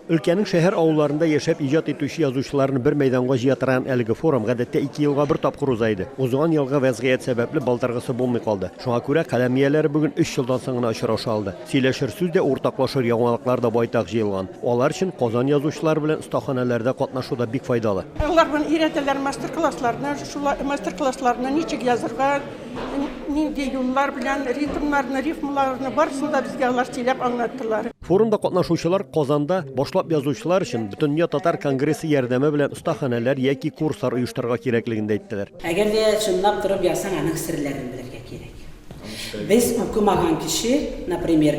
Өлкәнең шәһәр-авылларында яшәп иҗат итүче язучыларны бер мәйданга җыя торган әлеге форум гадәттә ике елга бер тапкыр уза иде. Узган елгы вәзгыять сәбәпле балтыргысы булмый калды. Шуңа күрә каләм ияләре бүген өч елдан соң гына очраша алды. Сөйләшер сүз дә, уртаклашыр яңалыклар да байтак җыелган. Алар өчен Казан язучылары белән остаханәләрдә катнашу да бик файдалы. Алар бүген өйрәтәләр мастер-классларны, шулай мастер-классларны ничек язырга, нинди юллар белән, ритмнарны, рифмаларны, барысын да безгә алар сөйләп аңлаттылар. Форумда катнашучылар Казанда башлап язучылар өчен Бөтендөнья татар конгрессы ярдәме белән остаханәләр яки курслар оештырырга кирәклеген дә әйттеләр. Әгәр дә чынлап торып язсаң, аның серләрен белергә кирәк. Без укымаган кеше, например,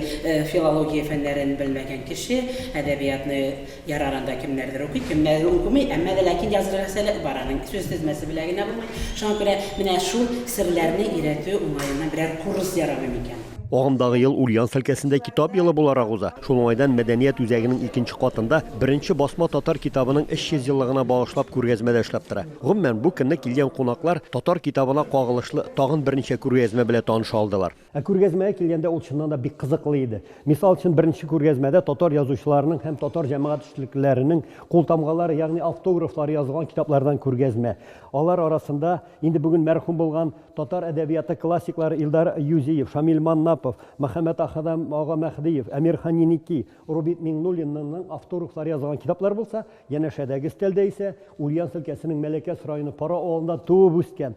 филология фәннәрен белмәгән кеше әдәбиятны Ярар анда кемнәрдер укый, кемнәрдер укымый, әмма дә ләкин язырга сәләт бар аның, сүз тезмәсе белә генә булмый. Шуңа күрә менә шул серләрне өйрәтү уңаеннан берәр курс ярамый микән? Агымдагы ел Ульяновск өлкәсендә китап елы буларак уза. Шул уңайдан мәдәният үзәгенең икенче катында беренче басма татар китабының 300 еллыгына багышлап күргәзмә дә эшләп тора. Гомумән, бу көнне килгән кунаклар татар китабына кагылышлы тагын берничә күргәзмә белән таныша алдылар. Ә күргәзмәгә килгәндә ул чыннан да бик кызыклы иде. Мисал өчен, беренче күргәзмәдә татар язучыларының һәм татар җәмәгать эшлеклеләренең култамгалары, ягъни автографлары язылган китаплардан күргәзмә. Алар арасында инде бүген мәрхүм булган татар әдәбияты классиклары Илдар Юзиев, Шамил Маннапов, Мөхәммәтаһадам ага Мәһдиев, Әмирхан Еники, Рубит Миңнуллиннанның автографлары язылган китаплар булса, янәшәдәге өстәлдә исә Ульяновск өлкәсенең Мәләкәс районы Пара авылында туып үскән,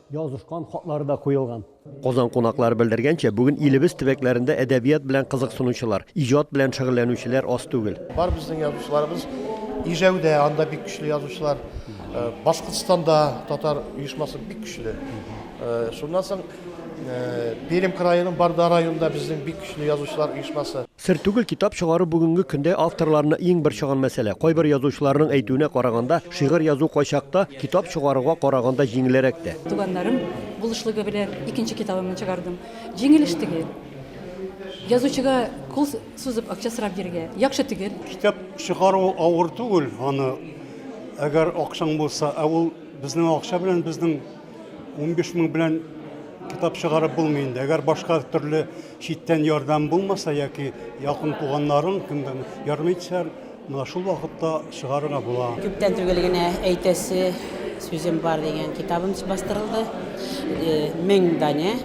Язышкан хатлары да куелган. Казан кунаклары белдергәнчә, бүген илебез төбәкләрендә әдәбият белән кызыксынучылар, иҗат белән шөгыльләнүчеләр аз түгел. Бар безнең язучыларыбыз Ижәүдә, анда бик көчле язучылар. Башкортстанда татар оешмасы бик көчле. Шуннан соң Пермь краеның Барда районында безнең бик көчле язучылар оешмасы. Сер түгел, китап чыгару бүгенге көндә авторларны иң борчыган мәсьәлә. Кайбер язучыларның әйтүенә караганда, шигырь язу кайчакта китап чыгаруга караганда җиңелерәк тә. Туганнарым булышлыгы белән икенче китабымны чыгардым. Җиңелеш түгел. Язучыга кул сузып акча сорап йөрергә яхшы түгел. Китап чыгару авыр түгел, аны әгәр акчаң булса, ә ул безнең акча белән, безнең унбиш мең белән китап чыгарып булмый инде. Әгәр башка төрле Читтән ярдәм булмаса яки якын туганнарың кемдән ярдәм итсә, менә шул вакытта чыгарырга була. Күптән түгел генә әйтәсе сүзем бар дигән китабым бастырылды. Э, мең данә.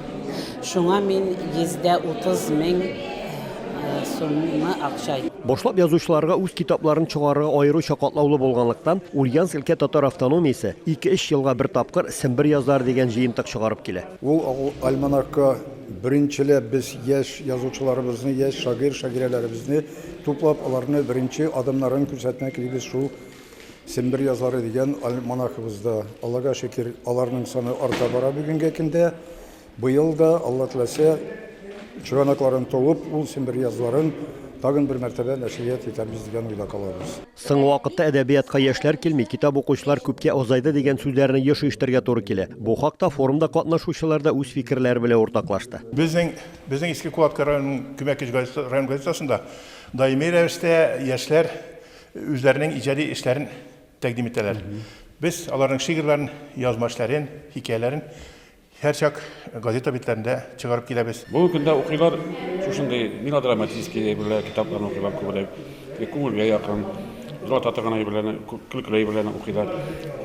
Шуңа мин 130 мең э, сумны акча Башлап язучыларга үз китапларын чыгарырга аеруча катлаулы булганлыктан, Ульяновск өлкә татар автономиясе 2-3 елга бер тапкыр Сембер язлары дигән җыентык чыгарып килә. Ул альманахка Беренчеләп без яшь язучыларыбызны, яшь шагыйрь-шагыйрәләребезне туплап, аларны беренче адымнарын күрсәтмәк телибез шул Сембер язлары дигән альманахыбызда. Аллага шөкер, аларның саны арта бара бүгенге көндә. Быел да, Алла теләсә, чыганакларын туып, ул Сембер язларын тагын бер мәртәбә нәшрият итәрбез дигән уйда калабыз. Соңгы вакытта әдәбиятка яшьләр килми, китап укучылар күпкә азайды дигән сүзләрне еш ишетергә туры килә. Бу хакта форумда катнашучылар да үз фикерләре белән уртаклашты. Безнең безнең Иске Кулаткы районының Көмәкич газетасы район газетасында даими рәвештә яшьләр үзләренең иҗади эшләрен тәкъдим итәләр. Без аларның шигырьләрен, язма эшләрен, хикәяләрен Һәрчак газета битләрендә чыгарып киләбез. Бүгенге көндә укыйлар шушындый мелодраматический әйберләр, китапларны укыйлар күбрәк. Күңелгә якын, дулата торган әйберләрне, көлкеле әйберләрне укыйлар.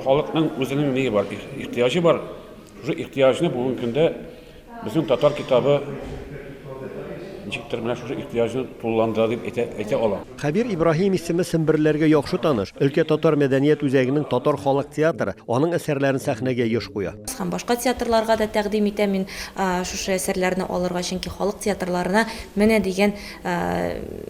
Халыкның үзенең ние бар, ихтыяҗы бар. Шушы ихтыяҗны бүгенге көндә безнең татар китабы Ничектер менә шушы ихтыяҗны тулыландыра дип әйтә әйтә алам. Кабир Ибраһим исеме семберләргә яхшы таныш. Өлкә татар мәдәният үзәгенең татар халык театры аның әсәрләрен сәхнәгә еш куя. Һәм башка театрларга да тәкъдим итә мин шушы әсәрләрне алырга, чөнки халык театрларына менә дигән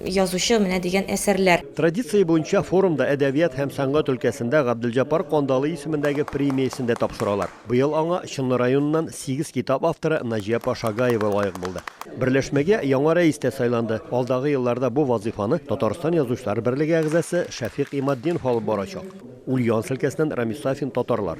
язучы, менә дигән әсәрләр. Традиция буенча форумда әдәбият һәм сәнгать өлкәсендә Габделҗапар Кандалый исемендәге премиясен дә тапшыралар. Быел аңа Чынлы районыннан сигез китап авторы Наҗия апа Шагаева лаек булды. Берләшмәгә яңа рәис тә сайланды. Алдагы елларда бу вазыйфаны Татарстан Язучылар берлеге әгъзасы Шәфыйк Иматдинов алып барачак. Ульяновск өлкәсеннән Рамис Сафин татарлар.